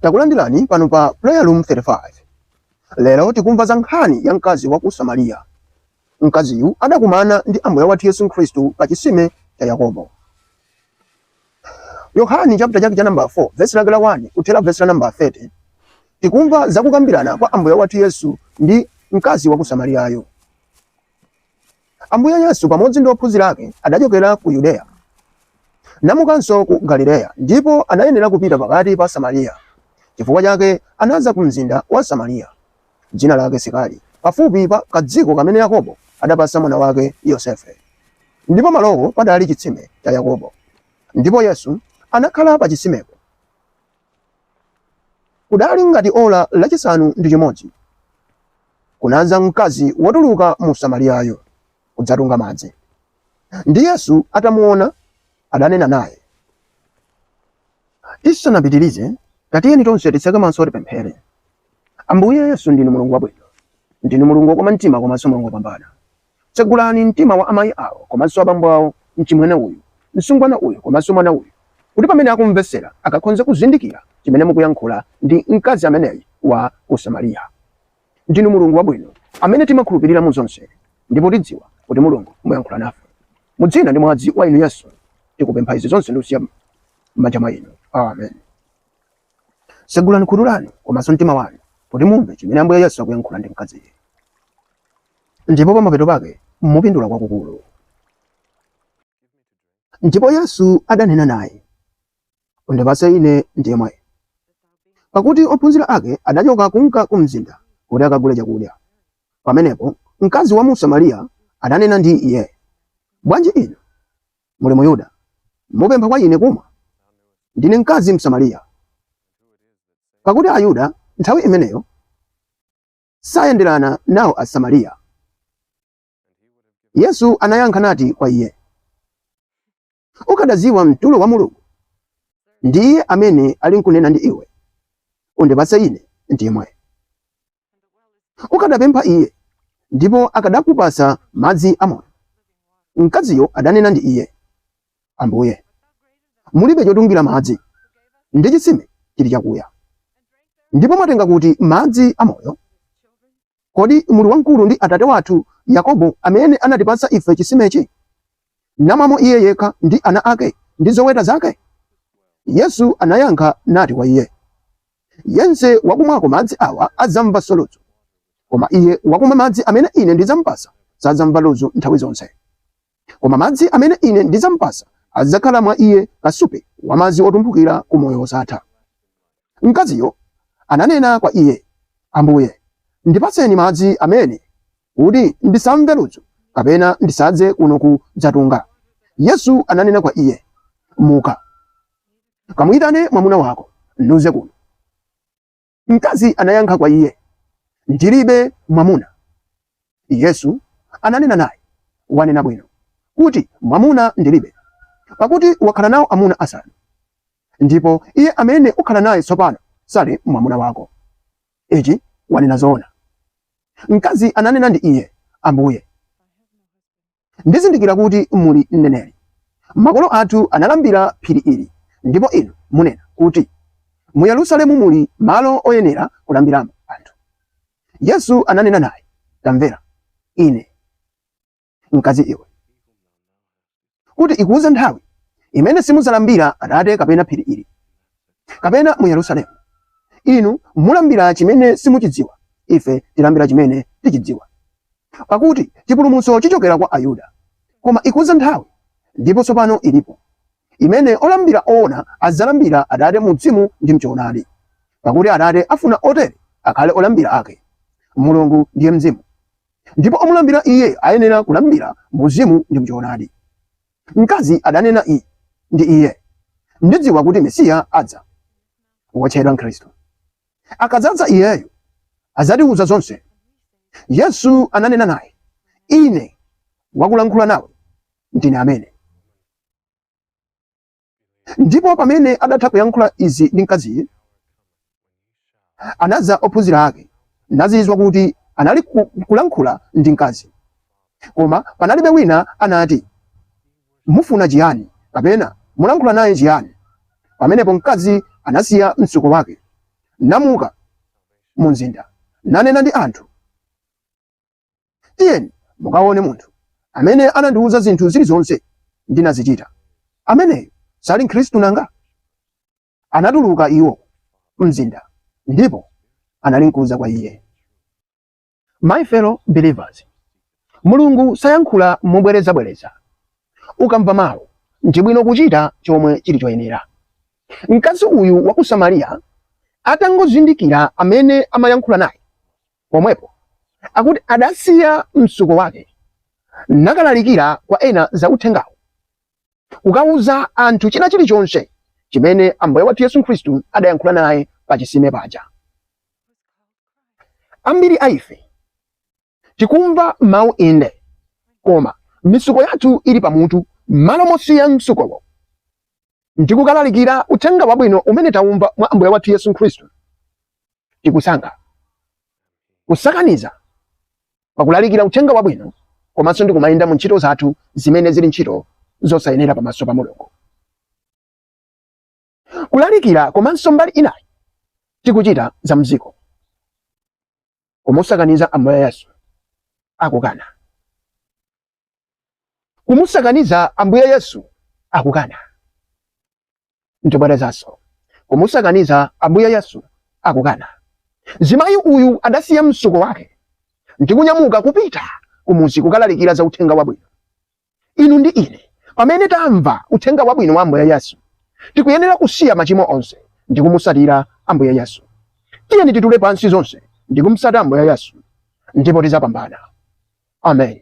Takulandirani pano pa Prayer Room 35. Lero tikumva za nkhani ya mkazi wa ku Samariya. Mkaziyu adakumana ndi Ambuye wathu Yesu Khristu pa chisime cha Yakobo. Yohani chapter chake cha namba 4 verse lake la 1 kuthera verse la namba 30 tikumva za kukambirana kwa Ambuye wathu Yesu ndi mkazi wa ku Samariyayo. Ambuye Yesu pamodzi ndi ophunzira ake adachokera ku Yudeya namukanso ku Galileya, ndipo anayenera kupita pakati pa Samariya. Chifukwa chake anadza ku mzinda wa Samariya, dzina lake Sikari, pafupi pa kadziko kamene Yakobo adapatsa mwana wake Yosefe. Ndipo pamalowo padali chitsime cha Yakobo. Ndipo Yesu anakhala pa chitsimepo. Kudali ngati ola lachisanu ndi chimodzi, kunadza mkazi wotuluka mu Samariyayo kudzatunga madzi, ndi Yesu atamuona, adanena naye, Tisanapitirize, tatiyeni tonse titseke maso tipemphere. Ambuye Yesu, ndinu Mulungu wabwino, ndinu Mulungu wokoma mtima komanso Mulungu wopambana. Tsegulani mtima wa amayi awo komanso abambo awo, mchimwene uyu, msungwana uyu komanso mwana uyu kuti pamene akumvetsera akakhonze kuzindikira chimene mukuyankhula ndi mkazi ameneyi wa ku Samariya. Ndinu Mulungu wabwino amene timakhulupilira mu zonse ndipo tidziwa kuti Mulungu muyankhula nafe. Mu dzina ndi mwazi wa inu Yesu tikupempha izi zonse ndikusiya m'manja mwa inu. Amen. Tsegulani khutu lanu komanso mtima wanu kuti mumve chimene Ambuye Yesu akuyankhula ndi mkaziyi. ndipo pamapeto pake mupindula kwakukulu. Ndipo Yesu adanena naye, Undipatse Ine ndimwe. Pakuti ophunzira ake adachoka kunka kumzinda kuti akagule chakudya. Pamenepo mkazi wa mu Samariya adanena ndi Iye, Bwanji inu, muli Muyuda, mupempha kwa ine kumwa? Ndine mkazi Msamariya. Pakuti Ayuda nthawi imeneyo sayenderana nawo Asamariya. Yesu anayankha nati kwa iye, Ukadadziwa mtulo wa Mulungu, ndi iye amene ali nkunena ndi iwe, undipatse ine ndimwe. Ukadapempha iye, ndipo akadakupatsa madzi amoyo. Mkaziyo adanena ndi iye, Ambuye, mulibe chotungira madzi, ndi chitsime chili chakuya, ndipo mwatenga kuti madzi a moyo? Kodi muli wamkulu ndi atate wathu Yakobo, amene anatipatsa ife chisimechi, namwamo iye yekha ndi ana ake ndi zoweta zake? Yesu anayankha nati kwa iye, Yense wakumwako madzi awa adzamvanso ludzu, koma iye wakumwa madzi amene Ine ndidzampatsa sadzamva ludzu nthawi zonse. Koma madzi amene ine ndidzamupatsa adzakhala mwa iye kasupe wa madzi otumphukira ku moyo wosatha. Mkaziyo ananena kwa iye, Ambuye, ndipatseni madzi amene, kuti ndisamve ludzu kapena ndisadze kuno kudzatunga. Yesu ananena kwa iye, Muka, kamuyitane mwamuna wako, nudze kuno. Mkazi anayankha kwa iye, ndilibe mwamuna. Yesu ananena naye, wanena bwino kuti mwamuna ndilibe, pakuti wakhala nawo amuna asanu, ndipo iye amene ukhala naye tsopano sali mwamuna wako. Ichi wanena zoona. Mkazi ananena ndi iye, Ambuye, Ndizindikira kuti muli mneneri. Makolo athu analambira m'phiri ili, ndipo inu munena kuti mu Yerusalemu muli malo oyenera kulambiramo anthu. Yesu ananena naye, Tamvera Ine, mkazi iwe, kuti ikudza nthawi imene simudzalambira Atate kapena m'phiri ili. kapena mu Yerusalemu. Inu mulambira chimene simuchidziwa, ife tilambira chimene tichidziwa. Pakuti chipulumutso chichokera kwa Ayuda. Koma ikudza nthawi, ndipo tsopano ilipo, imene olambira oona adzalambira Atate mu mzimu ndi mchoonadi. Pakuti Atate afuna otere akhale olambira ake. Mulungu ndiye mzimu, ndipo omulambira Iye ayenera kulambira mu mzimu ndi mchoonadi. Mkazi adanena i ndi iye, Ndidziwa kuti Mesiya adza, wotchedwa Khristu. Akadzadza Iyeyu, adzatiwuza zonse. Yesu ananena naye, Ine wakulankhula nawe ndine amene. Ndipo pamene adatha kuyankhula izi ndi mkaziyu, anadza ophunzira ake, nazizwa kuti analikulankhula ndi mkazi. Koma panalibe wina anati, Mufuna chiyani? kapena Mulankhula naye chiyani? Pamenepo mkazi anasiya mtsuko wake, namuka mumzinda, nanena ndi anthu. Tiyeni mukaone munthu amene anandiwuza zinthu zilizonse ndinazichita. Ameneyu sali Mkhristu nanga? Anatuluka iwo m'mzinda ndipo analinkudza kwa iye. My fellow believers, Mulungu sayankhula mobwerezabwereza. Ukamva mawu, ndi bwino kuchita chomwe chili choyenera. Mkazi uyu wa ku Samariya atangozindikira amene amayankhula naye, Pomwepo akuti adasiya mtsuko wake nakalalikira kwa ena za uthengawo, kukauza anthu china chilichonse chimene Ambuye wathu Yesu Khristu adayankhula naye pa chisime paja. Ambiri a ife tikumva mawu inde, koma mitsuko yathu ili pamutu m'malo mosiya mtsukowo. ndi kukalalikira uthenga wabwino umene tawumva mwa Ambuye wathu Yesu Khristu. Tikusankha kusakaniza pa kulalikira uthenga wabwino komanso ndi kumayenda mu ntchito zathu zimene zili ntchito zosayenera pamaso pa Mulungu. Kulalikira komanso mbali inayi tikuchita za mdziko kumusakaniza Ambuye Yesu akukana. ndibwerezanso kumusakaniza Ambuye Yesu akukana. Zimayi uyu adasiya msuko wake ndikunyamuka kupita kumuzi kukalalikira za uthenga wabwino. Inu ndi ine pamene tamva uthenga wabwino wa Ambuye Yesu tikuyenera kusiya machimo onse ndi kumusatira Ambuye Yesu. Tiyeni titule pansi zonse ndi kumsata Ambuye Yesu ndipo tizapambana. Amen.